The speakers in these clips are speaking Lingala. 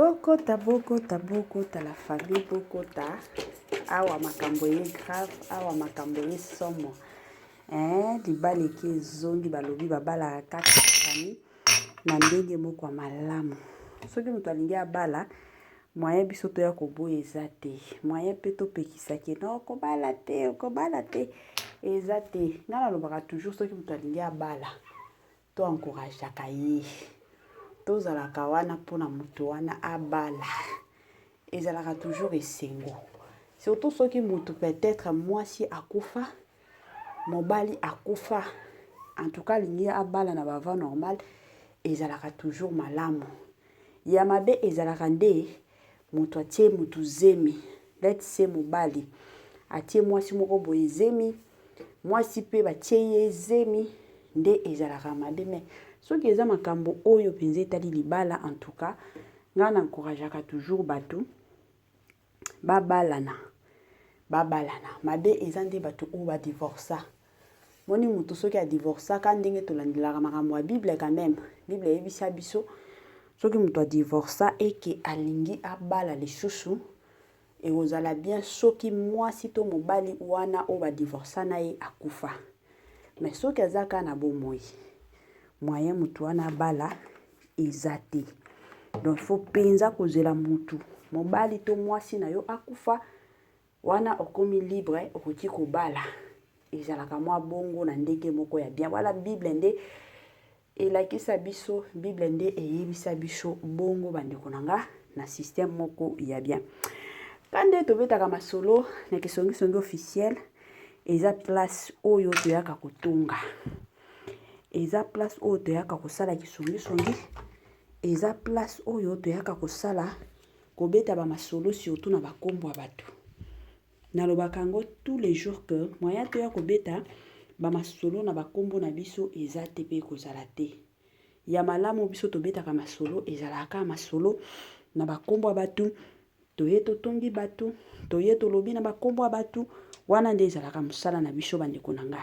bokota bokota bokota la famille bokota awa makambo ye grave awa makambo ye somo Eeh libala eke ezongi balobi babalaka kaka na famille na ndenge moko ya malamu. Soki moto alingi abala moyen biso toya koboya eza te. Moyen mpe topekisa ke non okobala te, okobala te eza te. Nga nalobaka toujours soki moto alingi abala To encourageaka ye. Tozalaka wana mpo na moto wana abala. Ezalaka toujours esengo. Surtout soki moto peut-être mwasi akufa, mobali akufa, en tout cas alingi abala na bava normal, ezalaka toujours malamu. Ya mabe ezalaka nde Mutu atie mutu zemi let's say mobali atie mwasi moko boye zemi mwasi pe batie ye zemi nde ezalaka mabe mais soki eza makambo oyo mpenza etali libala en tout cas ngai na encourageaka toujours bato babalana babalana mabe eza nde bato oyo badivorsa Omoni mutu soki a divorcaka ndenge tolandelaka makambo ya bible quand meme. Bible eyebisa biso soki mutu a divorca et que alingi abala lisusu ekozala bien soki mwasi to mobali wana oyo ba divorca na ye akufa. Mais soki aza kaka na bomoi moyen mutu wana abala eza te. Donc faut penza kozela mutu mobali to mwasi na yo akufa Wana okomi libre okoki kobala ezalaka mwa bongo na ndenge moko ya bien wana bible nde elakisa biso bible nde eyebisa biso bongo bandeko na nga na système moko ya bien ka nde tobetaka masolo na kisongisongi officiel eza place oyo toyaka kotonga eza place oyo toyaka kosala kisongisongi eza place oyo toyaka kosala Kobeta ba masolo surtout na ba kombo ya batu. Nalobaka yango tous les jours que moyen toya kobeta ba masolo na ba kombo na biso eza te pe ekozala te. Ya malamu biso tobetaka masolo ezalaka kaka masolo na ba kombo ya batu, toye totongi batu, toye tolobi na ba kombo ya batu, wana nde ezalaka mosala na biso ba ndeko na nga.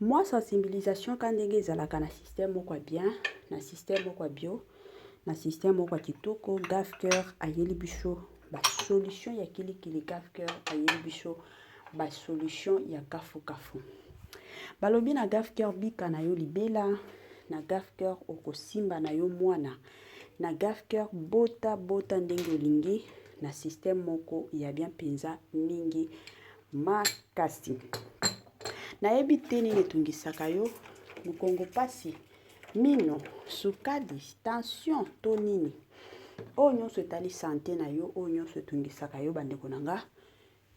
mwa sensibilisation ka ndenge ezalaka na système moko ya bien na système moko ya bio na système moko ya kitoko gafcœur ayeli biso basolution ya kilikili gafcœur ayeli biso basolution ya kafukafu balobi na gafcœur bika na yo libela na gafcœur okosimba na yo mwana na gafcœur bota bota ndenge olingi na système moko ya bien mpenza mingi makasi nayebi te nini etungisaka yo mokongo mpasi mino sukali tension to nini oyo nyonso etali sante na yo oyo nyonso etungisaka yo bandeko na nga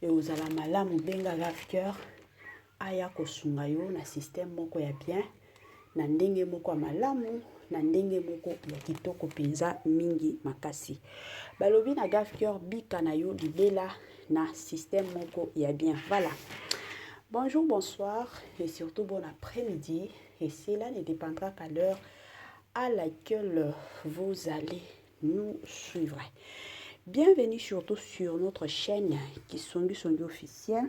ekozala malamu benga lafceur aya kosunga yo na systeme moko ya bien na ndenge moko ya malamu na ndenge moko ya kitoko mpenza mingi makasi balobi na gafcur bika na yo libela na système moko ya bien voilà bonjour bonsoir et surtout bon après-midi et cela ne dépendra qu'à l'heure à laquelle vous allez nous suivre. Bienvenue surtout sur notre chaîne Kisongi Songi officiel.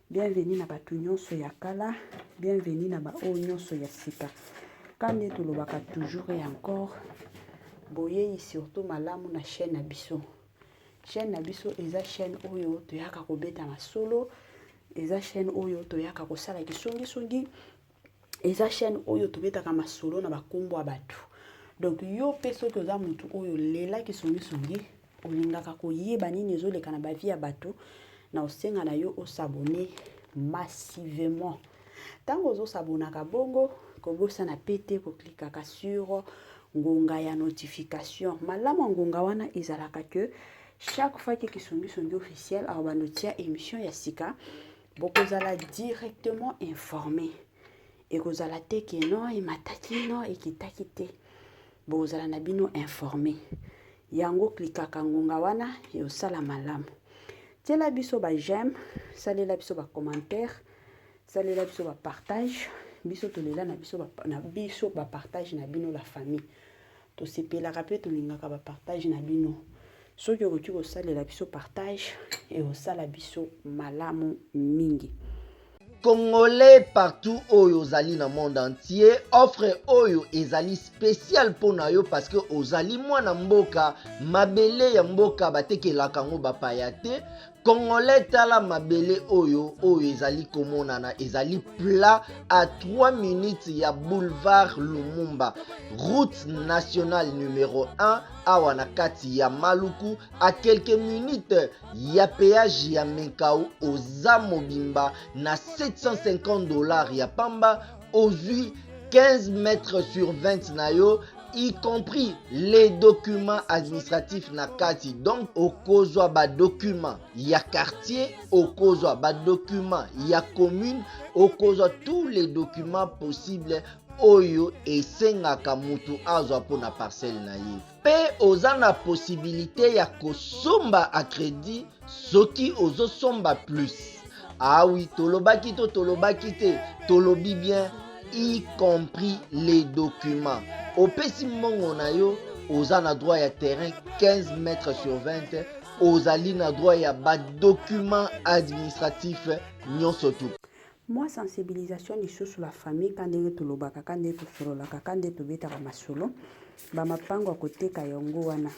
Bienvenue na batu nyonso ya kala, bienvenue na ba oyo nyonso ya sika. Kande tolobaka toujours et encore boyeyi surtout malamu na chaîne na biso. Chaîne na biso eza chaîne oyo toyaka kobeta masolo, eza chaîne oyo toyaka kosala kisongi songi eza chaîne oyo tobetaka masolo na bakombo ya bato donc yo mpe soki oza motu oyo lela kisongisongi olingaka koyeba nini ezoleka na bavie ya bato na osenga na yo osabone massivement ntango ozosabonaka bongo kobosana pe te koklikaka sur ngonga ya notification malamu ya ngonga wana ezalaka ke chaque fois ke kisongisongi officiel awa banotia émission ya sika bokozala directement informe ekozala te ke no emataki no ekitaki te bokozala na bino informe yango klikaka ngonga wana eosala malamu tiela biso ba j'aime salela biso ba commentaire salela biso ba partage biso tolela na biso ba, na biso ba partage na bino la famille Tosepelaka mpe tolingaka ba partage na bino. Soki okoki kosalela biso partage, ekosala biso malamu mingi. Congolais partout oyo ozali na monde entier, offre oyo ezali spécial mpo na yo parce que ozali mwana mboka, mabele ya mboka batekelaka yango bapaya te. Congolais tala mabele oyo oyo ezali komonana ezali plat à 3 minutes ya boulevard Lumumba route nationale numero 1 awa na kati ya Maluku à quelques minutes ya péage ya Menkau oza mobimba na 750 dollars ya pamba ozwi 15 mètres sur 20 na yo y compris les documents administratifs na kati donc okozwa badocument ya quartier okozwa badocument ya commune okozwa tous les documents possibles oyo esengaka moto azwa mpo na parcelle na ye mpe oza na posibilite ya kosomba a credit soki ozosomba plus awi ah tolobaki to tolobaki te tolobi bien y compris les documents opesi mbongo na yo oza na droit ya terrain 15 mètre sur 20 ozali na droit ya badocument administratif nyonso tu Mua sensibilisation lisusu la famille ka ndenge tolobaka ka ndenge tosololaka ka ndenge tobetaka masolo bamapango ya koteka yango wana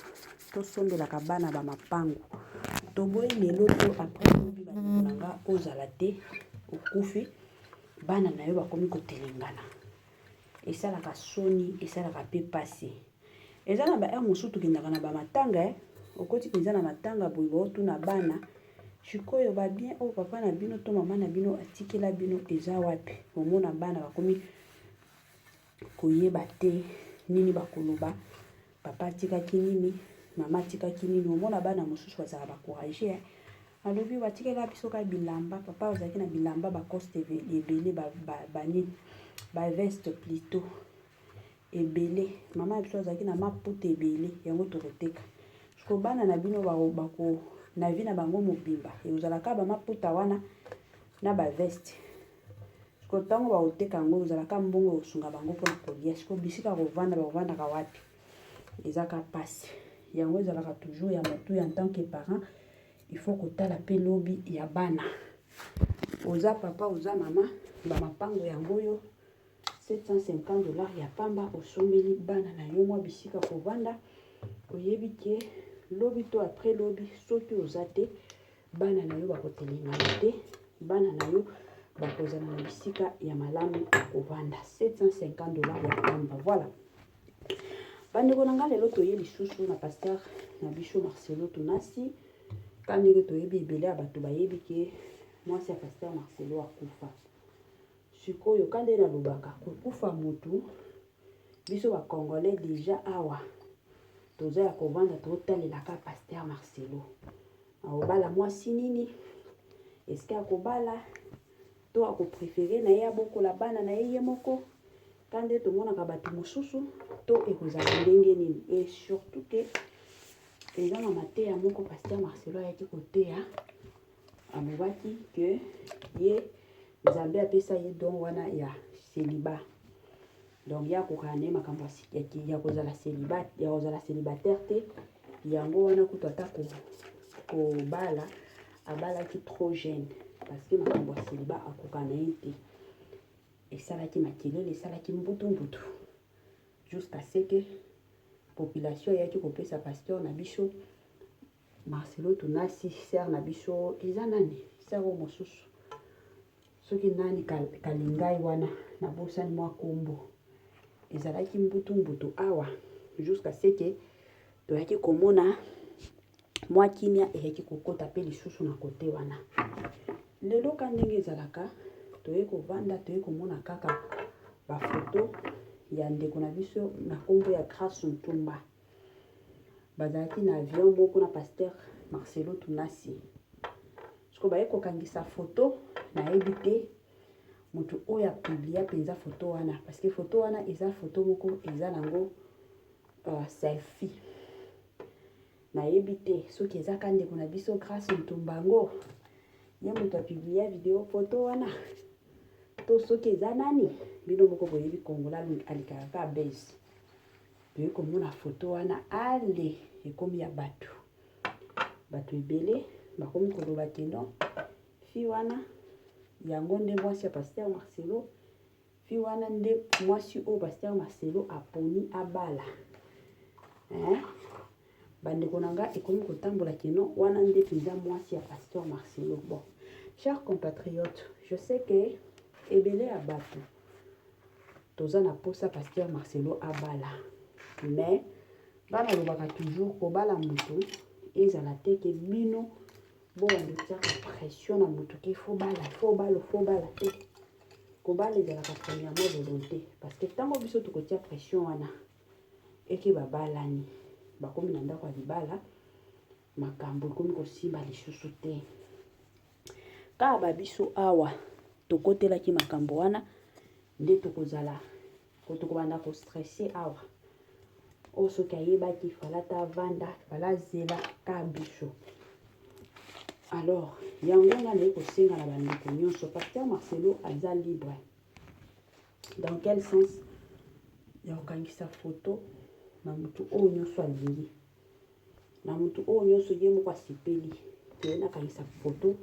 tosombelaka bana bamapango toboyi lelo to après lobi bandeko na nga ozala te okufi bana na yo bakomi kotelengana esalaka soni esalaka mpe mpasi Eza na ba heure mosusu tokendaka na ba matanga eh. Okoti penza na matanga boye ba otuna bana sikoyo ba bien oyo papa na bino to mama na bino atikela bino eza wapi? Omona bana bakomi koyeba te nini bakoloba, papa atikaki nini, mama atikaki nini. Omona bana mosusu bazala ba courage eh. Alobi batikela biso kaka bilamba, papa azalaki na bilamba ba coste ebele ba, ba, ba nini ba veste plutôt ebele mama na biso azalaki na maputa ebele yango tokoteka siko bana na bino bako na vie na bango mobimba ekozalaka bamaputa wana na baveste siko ntango bakoteka yango ekozalaka mbongo ekosunga bango mpona kolia siko bisika kovanda bakofandaka wapi ezaka mpasi yango ezalaka toujours ya motu ya ntan que parent il faut kotala mpe lobi ya bana oza papa oza mama bamapango yango oyo 750 dollars ya pamba osombeli bana na yo mwa bisika kovanda oyebi ke lobi to après lobi soki oza te bana na yo bakotelemana te bana na yo bakozala na bisika ya malamu ya kovanda 750 dollars ya pamba voilà bandeko na ngai lelo toye lisusu na pasteur na biso marcelo tunasi ka ndenge toyebi ebele ya bato bayebi ke mwasi ya pasteur marcelo akufa Sikoyo ka nde nalobaka kokufa mutu biso ba congolais dejà awa toza ya kovanda totalela ka pasteur Marcelo aobala mwasi nini eske akobala to akoprefere na ye abokola bana na ye ye moko ka nde tomonaka bato mosusu to ekozala ndenge nini e surtout ke eza na mateya moko pasteur Marcelo ayaki koteya Alobaki que ye Nzambe apesa ye don wana ya celibat. Donc ya kokana ne makambo ya kozala celibat, ya kozala celibataire te. Yango wana kutu ata ko kobala abalaki trop jeune parce que makambo ya celibat akokana ye te. Esalaki makelele, esalaki mbutu mbutu jusqu'à ce que population eyaki kopesa pasteur na biso Marcelo tunasi sœur na biso eza nani sœur oyo mosusu soki nani kalingai wana nabosani mwa kombo ezalaki mbutu mbutu awa jusqu'à ce que toyaki komona mwa kimia eyaki kokota mpe lisusu na kote wana lelo ka ndenge ezalaka toye kovanda toye komona kaka bafoto ya ndeko na biso na kombo ya grace ntumba bazalaki na avion moko na pasteur marcelo tunasi siko baye kokangisa foto nayebi te moto oyo apiblia mpenza foto wana parce que foto wana eza foto moko eza nango uh, selfie nayebi te soki eza ka ndeko na biso grace ntumba yango ye moto apiblia video foto wana to soki eza nani bino moko boyebi kongola alikaka ka base Toyei komona foto wana ale ekomi ya bato bato ebele bakomi koloba ke non fi wana yango nde mwasi ya pasteur marcelo fi wana nde mwasi oyo pasteur marcelo aponi abala eh? Bandeko na nga ekomi kotambola kino wana nde mpenza mwasi ya pasteur Marcelo. Bon, chers compatriotes, je sais que ebele ya bato toza na posa pasteur Marcelo abala, mais bana lobaka toujours kobala moto ezala te ke bino bowande tiaka pression na moto ke fo bala fo balo fo bala te kobala ezalaka premièrement volonté parce que ntango biso tokotia pression wana Eke babalani bakomi na ndako ya libala, makambo ekomi kosimba lisusu te. Kaka ba biso awa tokotelaki makambo wana nde tokozala tokobanda ko stresse awa oyo oh, soki ayebaki fala ta vanda fala zela ka biso alors yango nga naye kosenga na bandeko nyonso pasteur marcelo aza libre Dans quel sens ya kokangisa foto na motu oyo nyonso alingi na motu oyo nyonso ye moko asepeli te nakangisa foto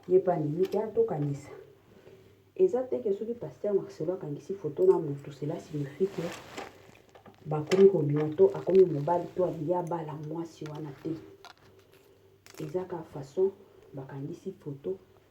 ye mpe andimi te atokanisa eza te ke soki paster marcelo akangisi foto na motu cela signifie ke bakomi kobima to akomi mobali to alingi abala mwasi wana te eza kaka façon bakangisi foto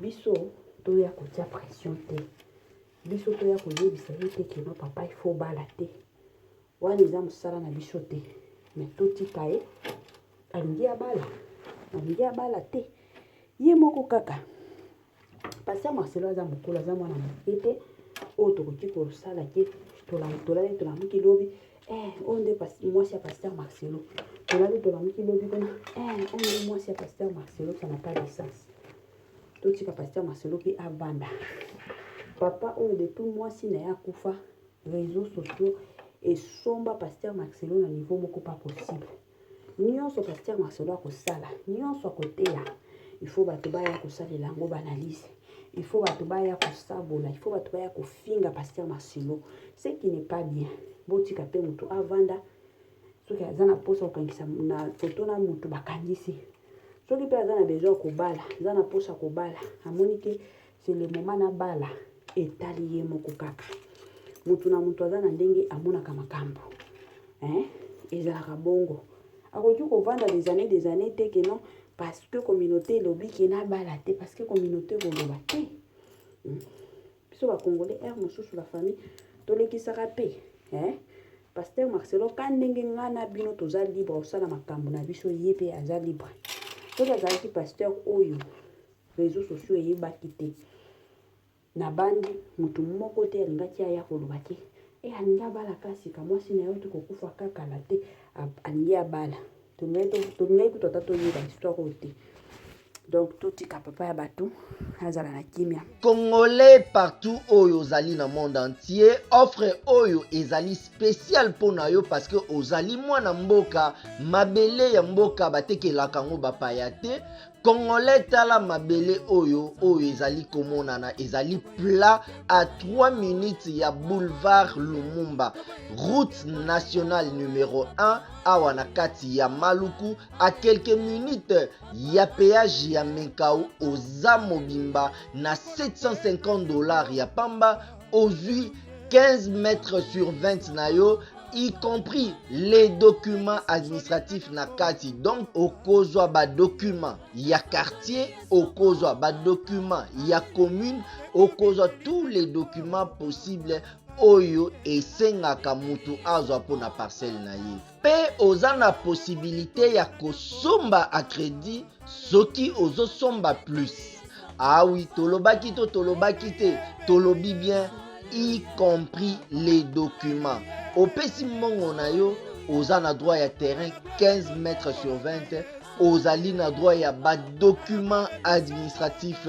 biso toya kotia pression te biso toya koyebisa ye te keno papa ifo bala te wana eza mosala na biso te me totika ye alingi abala alingi abala te ye moko kaka pasi ya marcelo aza mokolo aza mwana moke te oyo tokoki kosala te tolali tolamuki lobi Eh, oyo nde mwasi ya pasteur marcelo tolali tolamuki lobi kuna eh, oyo nde mwasi ya pasteur marcelo ça n'a pas de sens totika pasteur marcelo mpe abanda papa oyo depuis mwasi na ye akufa réseau sociaux esomba pasteur marcelo na niveau moko pas possible Nionso pasteur Marcelo akosala, nionso akoteya, il faut bato baya kosalela yango ba analyse. Il faut bato baya kosabola, il faut bato baya kofinga pasteur Marcelo. Ce qui n'est pas bien. Botika pe moto avanda soki aza na posa kokangisa na foto na moto bakangisi. Soki pe aza na besoin kobala, aza na posa kobala, amoni ke c'est le moment nabala etali ye moko kaka moto na moto aza na ndenge amonaka makambo hein? ezalaka bongo akoki kovanda des années des années te ke non parce que communauté elobi ke nabala te parce que communauté ekoloba te hmm? biso bacongolais heure mosusu la famille tolekisaka mpe hein? paster marcelo ka ndenge ngai na bino toza libre kosala makambo na biso ye mpe aza libre soki azalaki paster oyo reseaux sociaux eyebaki te nabandi mutu moko te alingaki aya koloba ke e alingi abala kasika mwasi na yo te kokufa kaka na te alingi abala tolingaki kutu ata toyeba histoire oyo te donc totika papa ya bato azala na kimia congolais partout oyo ozali na monde entier offre oyo ezali spécial mpo na yo parce que ozali mwana mboka mabele ya mboka batekelaka yango bapaya te Congolais tala mabele oyo oyo ezali komonana ezali plat à 3 minutes ya boulevard Lumumba route nationale numero 1 awa na kati ya Maluku à quelques minutes ya péage ya Menkau oza mobimba na 750 dollars ya pamba ozwi 15 mètres sur 20 na yo y compris les documents administratifs na kati donc okozwa badocument ya quartier okozwa badocument ya commune okozwa tous les documents possibles oyo esengaka moto azwa mpo na parcelle na ye mpe oza na posibilite ya kosomba a credit soki ozosomba plus awi ah tolobaki to tolobaki te tolobi bien y compris les documents opesi mbongo na yo oza na droit ya terrain 15 mètres sur 20 ozali na droit ya badocument administratif